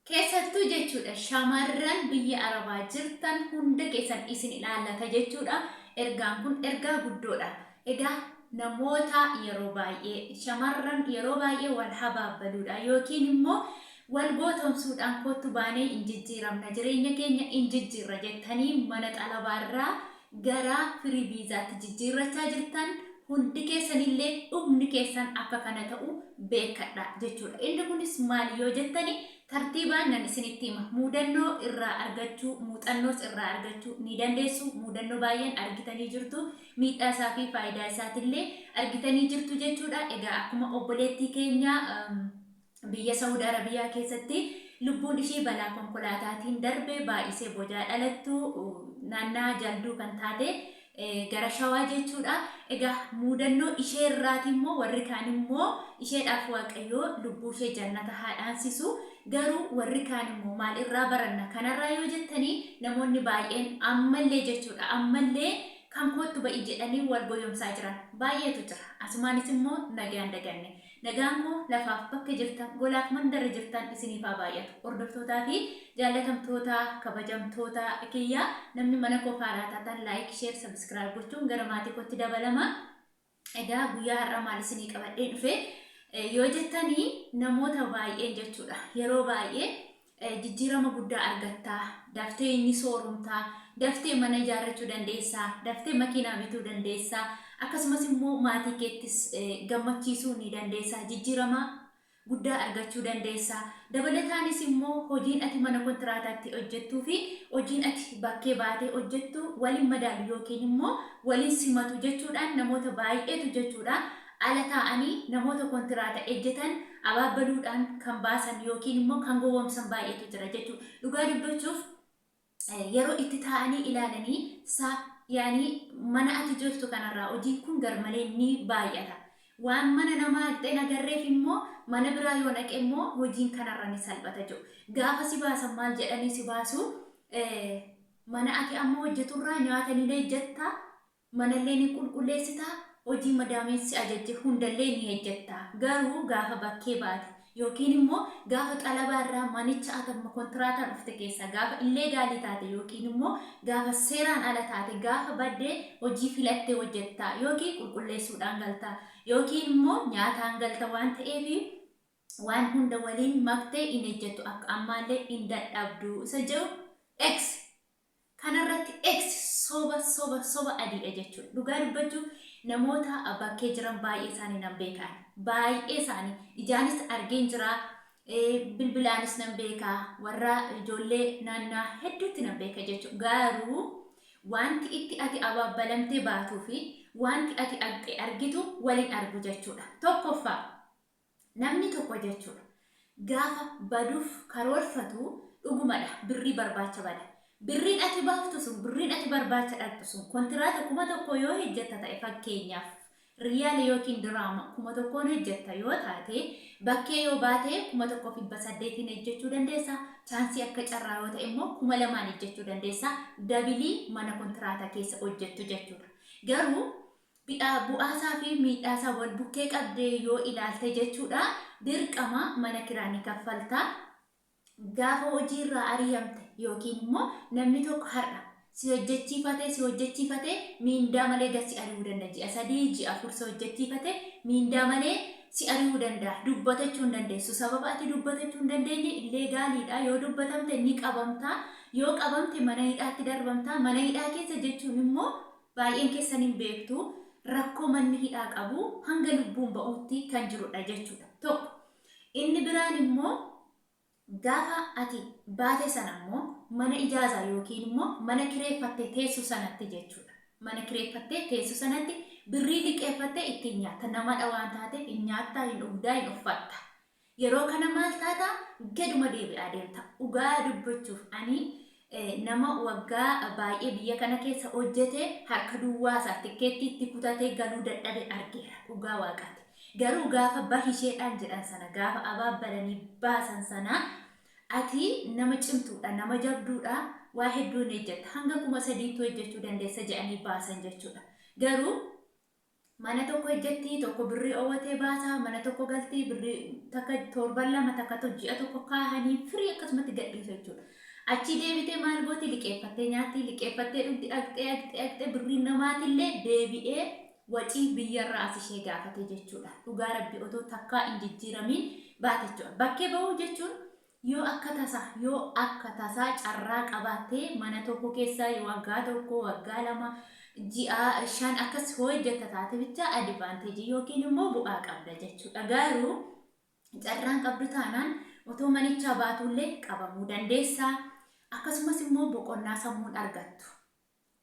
Keessattuu jechuudha shamarran biyya arabaa jirtan hunda keessan isin ilaallata jechuudha ergaan kun ergaa guddoodha egaa namoota yeroo baay'ee shamarran yeroo baay'ee wal habaabbaluudhaan yookiin immoo wal gootomsuudhaan kottu baanee in jijjiiramna jireenya keenya in jijjiirra jettanii mana xalabaarraa gara Free Visaatti jijjiirrachaa jirtan hundi keessanillee dhumni keessan akka kana ta'u beekkadha jechuudha. Inni kunis maali yoo jettani tartiibaan nan isinitti hima. Muudannoo irraa argachuu, muuxannoos irraa argachuu ni dandeessu. Muudannoo baay'een argitanii jirtu. Miidhaa isaa fi faayidaa isaatillee argitanii jirtu jechuudha. Egaa akkuma obboleettii keenya Biyya Sa'ud Arabiyaa keessatti lubbuun ishii balaa konkolaataatiin darbe baay'isee boodaa dhalattu naannaa Jalduu kan taate gara Shawaa jechuudha. Egaa muudannoo ishee irraati immoo warri kaan immoo isheedhaaf Waaqayyoo lubbuu ishee jannata haa dhaansisu. Garuu warri kaan immoo maal irraa baranna kanarraa yoo jettanii namoonni baay'een ammallee jechuudha ammallee kan koottu ba'i jedhanii wal goyomsaa jiran baay'eetu jira. Asumaanis immoo nagaan daganne. Nagaan koo lafaaf bakka jirtan golaaf mandara jirtan isiniif haa baay'atu hordoftootaa fi jaallatamtootaa kabajamtootaa kiyyaa namni mana koof haaraa taatan like share subscribe gochuun gara maatii kootti dabalama egaa guyyaa har'aa maal isinii qabadheen dhufe yoo jettanii namoota baay'een jechuudha yeroo baay'ee jijjiirama guddaa argatta, daftee ni sooromta, daftee mana ijaarrachuu dandeessa, daftee makiinaa bituu dandeessa, akkasumas immoo maatii keettis gammachiisuu ni dandeessa, jijjiirama guddaa argachuu dandeessa. Dabalataanis immoo hojiin ati mana kontiraataatti hojjettuu fi hojiin ati bakkee baatee hojjettu waliin madaalu yookiin immoo waliin simatu jechuudhaan namoota baay'eetu jechuudha ala taa'anii namoota kontiraata ejjetan abaabbaluudhaan kan baasan yookiin immoo kan gowwoomsan baay'eetu jira jechuudha. Dhugaa dubbachuuf yeroo itti taa'anii ilaalanii sa yaanii mana ati jirtu kanarraa hojiin kun garmalee ni baay'ata. Waan mana namaa dhaqxee hin agarreef immoo mana biraa yoo dhaqe immoo hojiin kanarra ni salphata jiru. Gaafa si baasan maal jedhanii si baasu? Mana ati amma hojjeturraa nyaata ni ejjetta, Manallee ni qulqulleessita, hojii madaamiin si ajajje hundallee ni hejjetta. Garuu gaafa bakkee baate yookiin immoo gaafa xalabaa irraa manicha atamma kontiraataan dhufte keessaa gaafa illeegaalii taate yookiin immoo gaafa seeraan ala taate gaafa badde hojii filatte hojjetta yookiin qulqulleessuudhaan galta yookiin immoo nyaataan galta waan ta'eef waan hunda waliin maktee hin hejjettu akka ammaallee hin dadhabdu isa jedhu X. Kana irratti X soba soba soba adiidha jechuudha. Dhugaa dubbachuuf namoota bakkee jiran baay'ee isaanii nan beeka ani. Baay'ee isaanii ijaanis argeen jira. Bilbilaanis nan beeka. Warra ijoollee naannaa hedduutti nan beeka jechuudha. Garuu wanti itti ati abaabbalamtee baatuu fi wanti ati argitu waliin argu jechuudha. Tokkoffaa Namni tokko jechuudha gaafa baduuf karoorfatu dhugumadha birrii barbaacha bada. Birriin ati baaftu sun birriin ati barbaacha dhaqxu sun kontiraata kuma tokkoo yoo hejjatta ta'e fakkeenyaaf riyaala yookiin diraama kuma tokkoon hejjatta yoo taate bakkee yoo baate kuma tokkoof dhibba saddeetiin hejjachuu dandeessa chaansii akka carraa yoo ta'e immoo kuma lamaan hejjachuu dandeessa dabilii mana kontiraata keessa hojjattu jechuudha garuu bu'aasaa fi miidhaasaa wal bukkee qabdee yoo ilaalte jechuudha dirqama mana kiraa ni kaffalta. Gaafa hojiirraa ari'amte yookiin immoo namni tokko har'a si hojjechiifatee si hojjechiifatee miindaa malee gad si ari'uu danda'a. Ji'a sadii ji'a afur si hojjechiifatee miindaa malee si ari'uu danda'a. Dubbatachuu hin dandeessu. Sababa ati dubbatachuu hin dandeenye illee gaaliidha. Yoo dubbatamte ni qabamta. Yoo qabamte mana hidhaatti darbamta. Mana hidhaa keessa jechuun immoo Baay'een keessan hin beektu, rakkoo manni hidhaa qabu hanga lubbuun ba'uutti kan jirudha jechuudha. Tokko. Inni biraan immoo gaafa ati baate sana immoo mana ijaazaa yookiin immoo mana kireeffattee teessu sanatti jechuudha. Mana kireeffattee teessu sanatti birrii liqeeffattee ittiin nyaatta. Namadha waan taate hin nyaatta, hin dhugdaa, hin uffatta. Yeroo kana maal taata? Gaduma deebi'aa deemta. Dhugaa dubbachuuf ani nama waggaa baay'ee biyya kana keessa hojjete harka duwwaa isaa tikkeettii itti kutatee galuu dadhabe argeera. Dhugaa waaqaati. Garuu gaafa bahisheedhaan jedhan sana gaafa abaabbalanii baasan sana ati nama cimtuudha, nama jabduudha, waa hedduu hin hojjetta. Hanga kuma sadiitti hojjechuu dandeessa jedhanii baasan jechuudha. Garuu Mana tokko ejjetti tokko birrii owwatee baasa mana tokko galti birrii takka torban lama takka to ji'a tokko kaahanii firii akkasumatti gadhiisu jechuudha. Achii deebitee maal gooti liqeeffattee nyaatti liqeeffattee dhugdi agxee agxee agxee birriin namaatillee deebi'ee wacii biyyarraa as ishee gaafate jechuudha. Dhugaa rabbi otoo takkaa hin jijjiiramiin baate jechuudha. Bakkee bahuu jechuun Yoo akka tasaa, yoo akka tasaa carraa qabaatte mana tokko keessa waggaa tokko, waggaa lama, ji'a shan akkas hoo hojjetta taate bicha advantage yookiin immoo bu'aa qabda jechuudha. Garuu carraan qabdu taanaan otoo manichaa baatuullee qabamuu dandeessa. Akkasumas immoo boqonnaa sammuun argattu.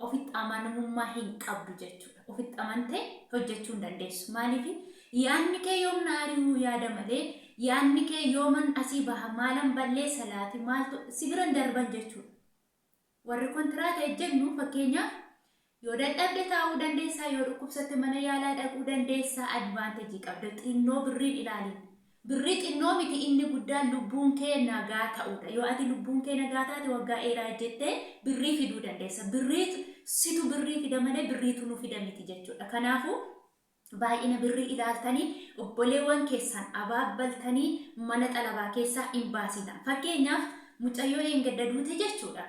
ofitti amanamummaa hin qabdu jechuudha. Ofitti amantee hojjechuu hin dandeessu. Maaliif yaadni kee yoom na ari'uu yaada malee yaadni kee yooman asii baha maalan balleessa laati maaltu si biran darban jechuudha. Warri kontiraata ejjennu fakkeenyaaf yoo dadhabde taa'uu dandeessaa, yoo dhukkubsatte mana yaalaa dhaquu dandeessaa advaantejii qabda. Xinnoo birriin ilaaliin. Birrii xinnoo miti inni guddaan lubbuun kee nagaa ta'uudha. Yoo ati lubbuun kee nagaa taate waggaa dheeraa ejjettee birrii fiduu dandeessa. Birriitu situ birrii fida malee birriitu nu fida miti jechuudha. Kanaafuu baay'ina birrii ilaaltanii obboleewwan keessan abaabbaltanii mana xalabaa keessaa hin baasinaa. Fakkeenyaaf mucayyoo dheengadda duute jechuudha.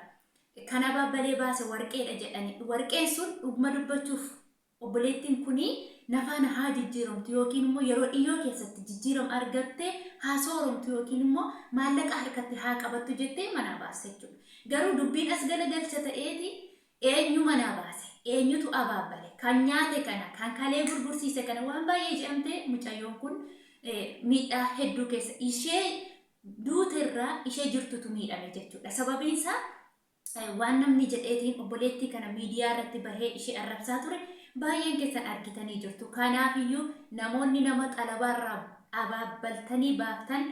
Kan abaabbalee baase warqeedha jedhanii warqeen sun dhuguma dubbachuuf Obboleettiin kun na faana haa jijjiiramtu ykn immoo yeroo dhiyyoo keessatti jijjiirama argattee haa sooromtu ykn immoo maallaqa harkatti haa qabattu jettee manaa baasta jechuudha. Garuu dubbiin as galagalcha ta'eeti eenyu manaa baase? Eenyutu abaabbale? Kan nyaate kana, kan kalee gurgursiise kana waan baay'ee je'amtee mucayyoon kun miidhaa hedduu keessa ishee duute irraa ishee jirtutu miidhame jechuudha. Sababiin isaa. Waan namni jedheetiin obboleettii kana miidiyaa irratti bahee ishee arrabsaa ture baay'een keessan argitanii jirtu. Kanaafiyyuu namoonni nama xalabaa irraa abaabbaltanii baaftan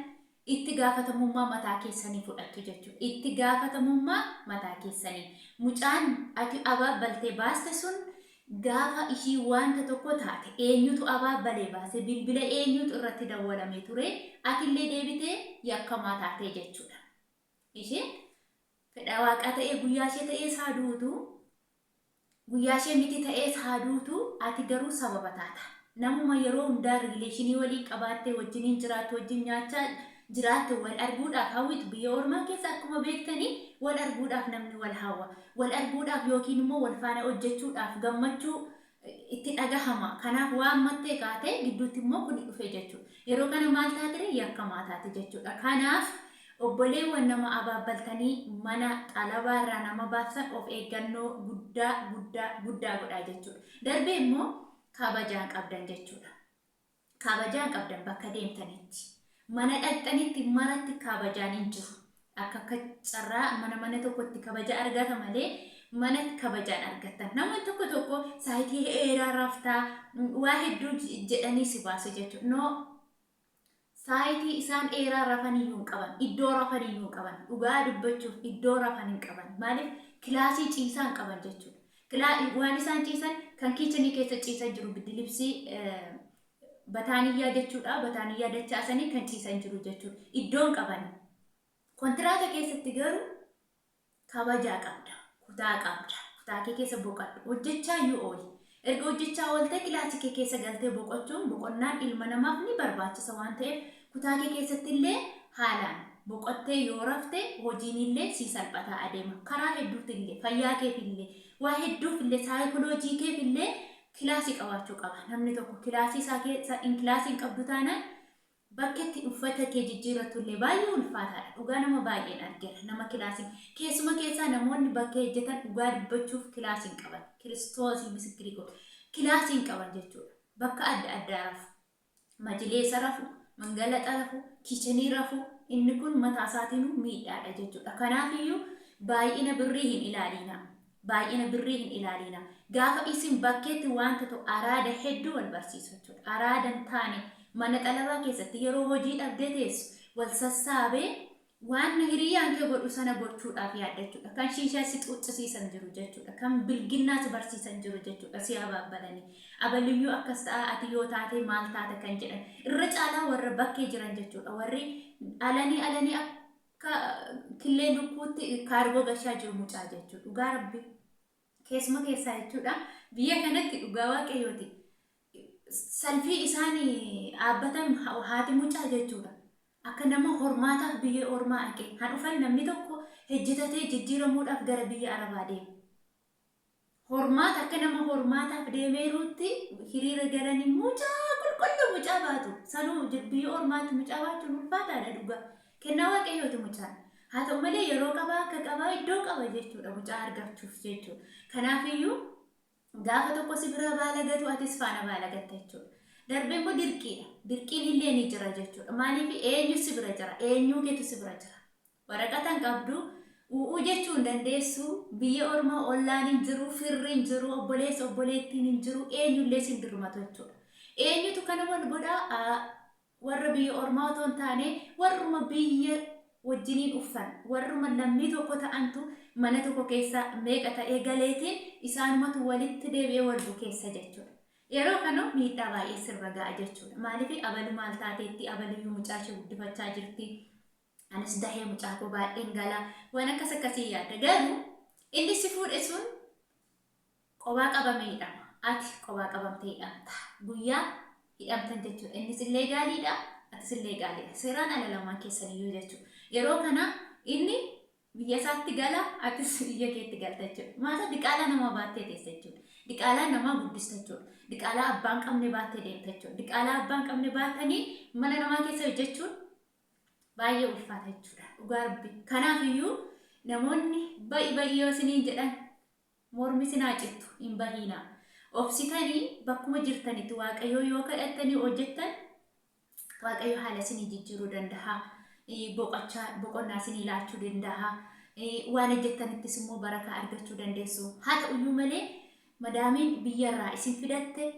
itti gaafatamummaa mataa keessanii fudhattu jechuudha. Itti gaafatamummaa mataa keessanii. Mucaan ati abaabbaltee baaste sun gaafa ishii wanta tokko taate eenyutu abaabbalee baase bilbila eenyutu irratti dawwalamee ture atillee deebitee yakkamaa taatee jechuudha. Isheen fedha Waaqaa ta'ee guyyaa ishee ta'ees haa duutu, guyyaa ishee miti ta'ees haa duutu, ati garuu sababa taata. Namuma yeroo hundaa riileeshinii waliin qabaattee wajjiniin jiraattu, wajjin nyaachaa jiraatte wal arguudhaaf hawwitu. Biyya ormaa keessa akkuma beektanii wal arguudhaaf namni wal hawwa. Wal arguudhaaf yookiin immoo wal faana hojjechuudhaaf gammachuu itti dhagahama. Kanaaf waan mattee kaate gidduutti immoo kuni dhufe jechuudha. Yeroo kana maal taatire? Yakkamaa taate jechuudha. Kanaaf obboleewwan nama abaabbaltanii mana xalabaa irraa nama baaftan of eeggannoo guddaa guddaa guddaa godhaa jechuudha. Darbee immoo kabajaan qabdan jechuudha. Kabajaan qabdan bakka deemtanitti, mana dhaqxanitti maratti kabajaan hin jiru. Akka akka carraa mana mana tokkotti kabaja argata malee manatti kabajaan argattan. Namoonni tokko tokko saayitii heeraa raftaa waa hedduu jedhanii si baasu jechuudha. No saayitii isaan eeraa rafan iyyuu hin qaban, iddoo rafan iyyuu hin qaban, dhugaa dubbachuuf iddoo rafan hin qaban. Maaliif kilaasii ciisaa hin qaban jechuudha. Kila waan isaan ciisan kan kiichenii keessa ciisan jiru biddilibsii bataaniyyaa jechuudha. Bataaniyyaa dachaasanii kan ciisan jiru jechuudha. Iddoon qaban. Kontiraata keessatti garuu kabajaa qabda. Kutaa qabda. Kutaa kee keessa boqadhu. Hojjechaa yoo ooli. Erga hojjechaa ooltee kilaasii kee keessa galtee boqochuun boqonnaan ilma namaaf ni barbaachisa waan ta'eef Kutaa kee keessattillee haalaan boqottee yoo rafte hojiinillee sii salphataa adeema. Karaa hedduutillee, fayyaa keefillee, waa hedduufillee, saayikoloojii keefillee kilaasii qabaachuu qaba. Namni tokko kilaasii isaa keessa hin kilaasii hin qabdu taanaan bakka itti uffata kee jijjiirrattullee baay'ee ulfaataadha. Dhugaa nama baay'een argeera. Nama kilaasii keessuma keessaa namoonni bakka hojjetan dhugaa dubbachuuf kilaasii hin qaban. Kiristoosii misikkirii godhe. Kilaasii hin qaban jechuudha. Bakka adda addaa rafu. majileesa rafu, mangalaxa rafu, kichenii rafu inni kun mataa isaatiinuu miidhaadha jechuudha. Kanaafiyyuu baay'ina birrii hin ilaaliinaa. Baay'ina birrii hin ilaaliinaa. Gaafa isin bakkeetti wanta ta'u araada hedduu wal barsiisu jechuudha. Araada hin taane mana xalabaa keessatti yeroo hojii dhabdee teessu wal sassaabee Waanna hiriyyaan kee godhu sana gochuudhaaf yaaddachuudha. Kan shiishaa si xuuxxisiisan jiru jechuudha. Kan bilginnaa si barsiisan jiru jechuudha. Si abaabbalanii. Abaliyyuu akkas ta'a, ati yoo taate maal taata kan jedhan. Irra caalaa warra bakkee jiran jechuudha. Warri alanii alanii akka killee lukkuutti kaargoo gashaa jiru mucaa jechuudha. Dhugaa rabbii. Keessuma keessaa jechuudha. Biyya kanatti dhugaa waaqayyooti. salfii isaan dhaabbatan haati mucaa jechuudha. Akka nama hormaataaf biyya ormaa dhaqee kan dhufan namni tokko hojjetatee jijjiiramuudhaaf gara biyya arabaa deema. Hormaata akka nama hormaataaf deemeeruutti hiriira galanii mucaa qulqulluu mucaa baatu. Sanuu jir- biyya ormaatti mucaa baachuun ulfaataadha dhugaa. Kennaa waaqayyooti mucaan. Haa ta'u malee yeroo qabaa akka qabaa iddoo qaba jechuudha mucaa argachuuf jechuudha. Kanaafiyyuu Gaafa tokko si biraa baalagatu atis faana baalagatta jechuudha. Darbee immoo dirqiidha. Dirqiin illee ni jira jechuudha. Maaliif eenyu si bira jira? Eenyuu keetu si bira jira? Waraqata hin qabdu, u'uu jechuu hin dandeessu, biyya ormaa ollaan hin jiru, firri hin jiru, obboleessa obboleettiin hin jiru, eenyullee sin dirmatu jechuudha. Eenyutu kana wal godhaa? Warra biyya ormaa otoo hin taane warruma biyya wajjiniin uffan, warruma lammii tokko ta'antu mana tokko keessa meeqa ta'ee galeetiin isaanumatu walitti deebi'ee wal bukeessa jechuudha. Yeroo kanoo miidhaa baay'ee sirra ga'a jechuudha. Maaliif abalu maal taateetti, abaluyyuu mucaa ishee guddifachaa jirti, Anis dahee mucaa koo baay'een gala waan akkas akkasii yaadda garuu inni si fuudhe sun qobaa qabamee hidhama ati qobaa qabamtee hidhamta guyyaa hidhamtan jechuudha innis illee gaaliidha atis illee gaaliidha seeraan ala lamaan keessaniyyuu jechuudha yeroo kana inni biyya isaatti gala atis biyya keetti galta jechuudha maata diqaalaa namaa baattee teessa jechuudha diqaalaa namaa guddista jechuudha diqaalaa abbaan qabne baattee deemta jechuudha diqaalaa abbaan qabne baattanii mana namaa keessa hojjechuun Baay'ee ulfaata jechuudha dhugaa rabbi. Kanaaf iyyuu namoonni ba'i ba'i yoo isiniin jedhan mormi isin haa cittu hin bahiinaa. Obsitanii bakkuma jirtanitti waaqayyoo yoo kadhattanii hojjettan waaqayyo haala isinii jijjiiruu danda'a. Eh, Boqochaa boqonnaa isinii laachuu danda'a. Eh, Waan hojjettanittis immoo barakaa argachuu dandeessu. Haa ta'uyyuu malee madaamiin biyyarraa isin fidatte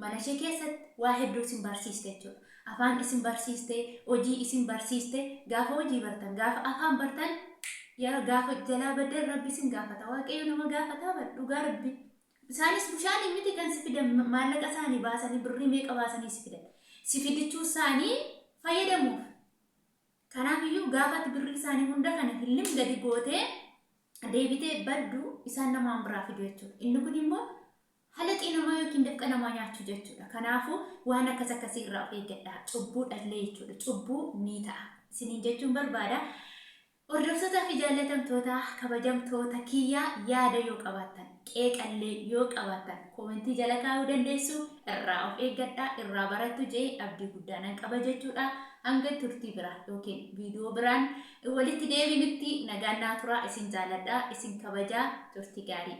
Mana ishee keessatti waa hedduu isin barsiiste jechuudha. Afaan isin barsiiste, hojii isin barsiiste, gaafa hojii bartan, gaafa afaan bartan, yaa gaafa jalaa baddan rabbi isin gaafata. Waaqayyo nama gaafataa bar dhugaa rabbi. Isaanis bushaanii miti kan si fidan ma- maallaqa isaanii baasanii birrii meeqa baasanii si fidan. Si fidichuu isaanii fayyadamuuf. Kanaaf iyyuu gaafa ati birrii isaanii hunda kana hillim gadi gootee deebitee baddu isaan namaan biraa fidu jechuudha. Inni kun immoo Halaxii namaa yookiin dafqa namaa nyaachuu jechuudha. Kanaafuu waan akkas akkasii irraa of eeggadhaa. Cubbuu dhallee jechuudha. Cubbuu ni ta'a. Isiniin jechuun barbaada. Hordoftoota fi jaallatamtoota kabajamtoota kiyya yaada yoo qabaattan qeeqallee yoo qabaattan koomentii jala kaa'uu dandeessu irraa of eeggadhaa irraa barattu jee abdii guddaa nan qaba jechuudha hanga turtii biraa yookiin viidiyoo biraan Walitti deebinutti nagaan naa turaa isin jaaladha isin kabajaa turti gaarii.